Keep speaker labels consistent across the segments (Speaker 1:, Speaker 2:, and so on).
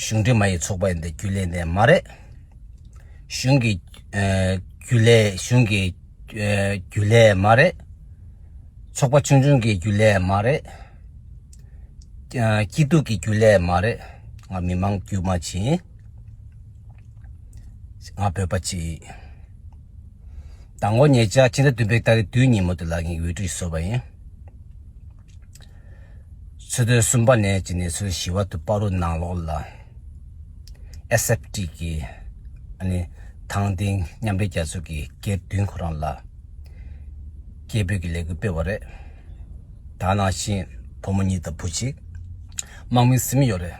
Speaker 1: གཞུང་འབྲེལ་མ་ཡིས་ཚོགས་པ་ཡིན་པའི་རྒྱུ་ལས་འདས་མ་རེད། གཞུང་གི་རྒྱུ་ལས་གཞུང་གི་རྒྱུ་ལས་མ་རེད། ཚོགས་པ་ཆུང་ཆུང་གི་རྒྱུ་ལས་མ་རེད། སྐྱིད་སྡུག་གི་རྒྱུ་ལས་མ་རེད། ང་མི་མང་དཀྱུས་མ་ཞིག་ཡིན། ང་བོད་པ་ཅིག་ཡིན། ད་ངོ་ཉེ་ཆར་ཕྱི་ཟླ་བདུན་པའི་ད་རེས་དུས་ཉིན་མོ་དེ་ལ་ངས་འོས་བསྡུ་ཞིག་བཟོས་པ་ཡིན། ཚོད་ལྟའི་གསུམ་པ་ནས་ཀྱི་གནས་ཚུལ་ཞི་བ་དུ་སྤ་རོ་ནང་ལོགས་ལ SFT གི་དང་བསྟན་མཉམ་འབྲེལ་རྒྱལ་ཚོགས་ཀྱི་སྐལ་བདུན་ཁོ་རང་ལ་སྐད་འབོད་ཀྱི་ལས་འགུལ་སྤེལ་བ་རེད། དང་ནང་བཞིན་བུ་མོ་གཉིས་དང་བུ་གཅིག་དམག་མིའི་སེམས་ཡོད་རེད།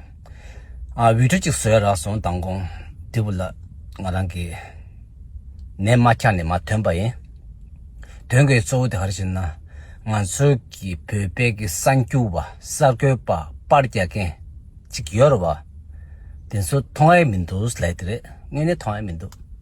Speaker 1: འོས་གྲོལ་ཅིག་བཟོས་རག་སོང་མདང་དགོང་དེ་བུ་ལ་ང་རང་གིས་ནད་མ་འཁྱག་ནས་མ་ཐོན་པ་ཡིན། དོན་གྱི་གཙོ་བོ་དེ་ག་རེ་ཞེ་ན། ང་ཚོ་གི་བོད་པའི་གི་གསར་འགྱུར་བ་གསར་འགོད་པ་པར་རྒྱག་མཁན་ཅིག་ཡོད་རེད་བ། དེ་ཚོ་མཐོང་ཨེ་མི་འདུག་ལད་དེ་རེད་དངོས་གནས་མཐོང་ཨེ་མི་འདུག།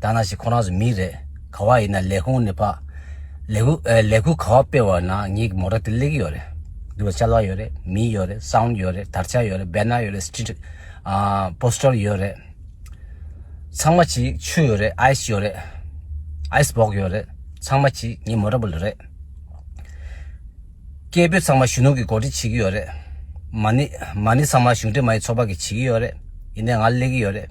Speaker 1: ད་ན་ཞིག་ཁོ་རང་ཚོ་མི་རེད་ག་བ་ཡིན་ན་ལས་ཁུང་ནས་ཕག་ལས་ཁུ་ཨ་ལས་ཁུ་ག་བ་སྤེལ་བ་ན་ངའི་མོ་ར་དེ་ལེགས་ཡོད་རེད་འདུག་ལྕ་ལག་ཡོད་རེད་མི་ཡོད་རེད་སའུན་ཡོད་རེད་དར་ཆ་ཡོད་རེད་བེ་ནར་ཡོད་རེད་སྤྱི་འགྲིག་ཨ་པོ་སྟོར་ཡོད་རེད་ཚང་མ་གྱི་ཆུ་ཡོད་རེད་ཨའི་སི་ཡོད་རེད་ཨའི་སི་བོག་ཡོད་རེད་ཚང་མ་གྱི་ངའི་མོ་ར་བུ་ལ་རེད་སྐད་འབོད་ཚང་མ་གཞོན་ནུ་གི་གོ་སྒྲིག་བྱེད་ཀྱི་ཡོད་རེད་མ་ནི་མ་ནི་ཚང་མ་གཞུང་འབྲེལ་མ་ཡི་ཚོགས་པ་གི་བྱེད་ཀྱི་ཡོད་རེད་ཡིན་ན་ང་ལེགས་ཡོད་རེད།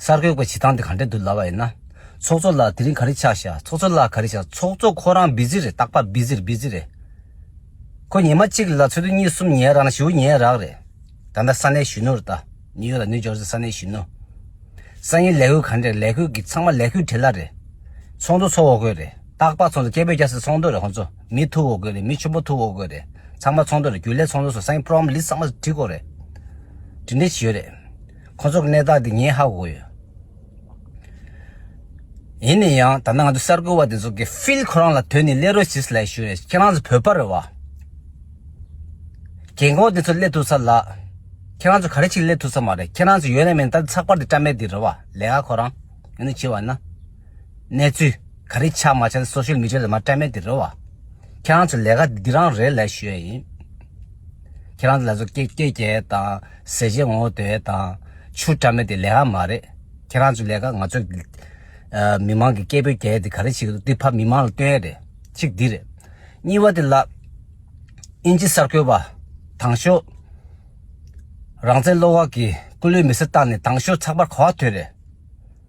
Speaker 1: གསར་འགོད་པའི་བྱེད་སྟངས་དེ་ག་འདྲའི་དུ་སླ་བ་ཡིན་ན། ཚོགས་གཙོ་ལགས་དེ་རིང་ག་རེ་ཆགས་ཤག་ཚོགས་གཙོ་ལགས་ག་རེ་ཆགས་ཚོགས་གཙོ་ཁོ་རང་བིཟི་རེད་རྟག་པར་བིཟི་རེད་བིཟི་རེད། ཁོ་ཉིན་མ་གཅིག་ལ་ཚོད་དུ་གཉིས་གསུམ་ཉལ་རག་ན་བཞི་བོ་ཉལ་རག་རེད། ད་ལྟ་ས་གནས་གཞོན་ནུ་རེད་ད། ནིའུ་ཡོག་ལ་ནིའུ་ཇོར་སི་ས་གནས་གཞོན་ནུ། སང་ཉིན་ལས་ཁུར་ག་འདྲ་རེད་ལས་ཁུར་གི་ཚང་མ་ལས་ཁུར་བྲེལ་ལ་རེད། ཚོགས་འདུ་ཚོགས་འོག་དགོས་རེད་རྟག་པར་ཚོགས་འདུ་སྐད་འབོད་རྒྱག་སའི་ཚོགས་འདུ་རེད་ཁོང་ཚོ་མི་ཐུག་འོག་དགོས་རེད་མི་ཆུན་པོ་ཐུག་འོག་དགོས་རེད་ཚང་མ་ཚོགས་འདུ་རེད་རྒྱུན་ལས་ཚོགས་འདུ་སོགས་ས་ཉིན program list ཚང་མ་བྲིས་དགོས་རེད། བྲིས་འབྲེལ་བྱེད་ཡོད་རེད། ཁོ་ཚོར་གནས་སྟངས་དེ་ཉན་ཧ་གོ་ཡོད། ཡིན་ན་ཡང་ད་ནི་ང་ཚོ་གསར་འགོད་པ་དེ་ཚོ་གིས་ཕིལ་ཁོ་རང་ལ་དོན་ནི་ལས་རོགས་ཞིག་སླེ་ཞུ་རེད་ཁྱེད་རང་ཚོ་བོད་པ་རེད་བ། རྒན་འཁོགས་དེ་ཚོ་སླེ་ཐུབ་ས་ལགས། ཁྱེད་རང་ཚོ་ག་རེ་ཆིག་སླེ་ཐུབ་ས་མ་རེད་ཁྱེད་རང་ཚོ་ཡོད་ན་མེད་ན་ད་ནི་ཚགས་པར་དེ་བཀྲ་མེད་དེ་རེད་བ་ལེ་ཨ་ཁོ་རང། ཡིན་ནི་ཅི་བ་ན། གནས་ཚུལ། ག་རེ་ཆགས་མ་ཆགས་སོགས་ཤུལ་མི་ཆོས་ལ་མ་སྤྲད་མེད་དེ་རེད་བ། ཁྱེད་རང་ཚོས་ལས་ཀ་འདི་རང་རེད་ལས་ཞུ་ཡ་ཡིན། ཁྱེད་རང་ཚོ་ལ་ཚོ་སྐད་སྐད་རྒྱལ་ཡས་དང་ཟས་བྱས་ངོ་བོ་དོད་ཡས་དང། ཆུ་བཀྲ་མེད་དེ་ལས་ཀ་མ་རེད། ཁྱེད་རང་ཚོའི་ལས་ཀ་ང་ཚོ་མི་མང་གི་སྐད་འབོད་རྒྱལ་ཡས་དེ་ག་རེ་བྱེད་ཀྱི་འདུག་དེ་ཕ་མི་མང་ལ་སྟོན་ཡས་རེད། གཅིག་འདི་རེད། གཉིས་བ་དེ་ལ། དབྱིན་ཇི་གསར་འགོད་བ། དྭང་ཞོ། རང་བཙན་བློ་དབང་གིས་སྐུ་ལུས་མེ་སྲི་བཏང་ནས་དྭང་ཞོ་ཚགས་པར་གོ་བ་དོད་རེད།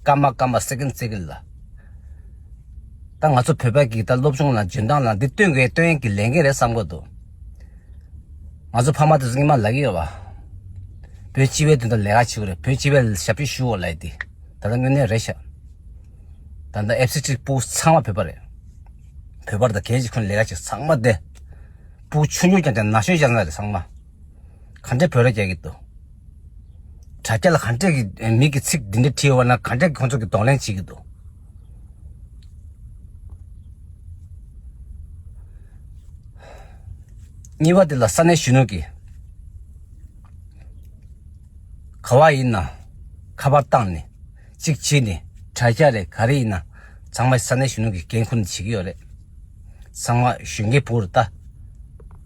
Speaker 1: སྐར་མ་སྐར་མ Second Second ལ། ད་ང་ཚོ་བོད་པ་གིས་ད་སློབ་ཆུང་ལ་འཇོན་ཐང་ལ་འདི་སྟོན་དགོས་སྟོན་ཡན་གྱི་ལས་འགན་རེད་བསམ་གོ་འདུག། ང་ཚོ་ཕ་མ་དེ་ཚོ་སྙིང་མ་ལག་གི་ཡོད་པ། བོད་སྤྱི་བའི་དོན་དུ་ལས་ཀ་བྱེད་དགོས་རེད་བོད་སྤྱི་བའི་ཞབས་ཕྱི་ཞུ་འོ་ལེ་དེ་ད་ལྟ་དངོས་གནས་རེད་ཤག། ད་ལྟ FCT པུའུ་ཚང་མ་བོད་པ་རེད། བོད་པར་ད་གལ་ཆེ་ཁུ་ལས་ཀ་བྱེད་ཚང་མ་དེ། པུའུ་ཆུང་ཆུང་ཀྱང་དེ་ན་གཞོན་ཤ་ཟ་རེད་ཚང་མ། ག་འདྲའི་བོད་ར་རྒྱག་གི་འདུག། དྲ་རྒྱ་ལ་གང་དྲག་གི་མིག་གི་ཚིག་འདི་འདྲ་ཁྲིད་ཡོང་བ་ན་གང་དྲག་གི་ཁོང་ཚོ་གི་གདོང་ལེན་བྱེད་གི་འདུག། གཉིས་པ་དེ་ལ་ས་གནས་གཞོན་ནུ་གིས་ག་བ་ཡིན་ན་ཁ་པར་བཏང་ནས་ཅིག་བྱས་ནས་དྲ་རྒྱ་རེད་ག་རེ་ཡིན་ན་ཚང་མ་ས་གནས་གཞོན་ནུ་གིས་འགན་ཁུར་ནས་བྱེད་གི་ཡོད་རེད། ཚང་མ་གཞོན་སྐྱེས་བོ་རེད་ད།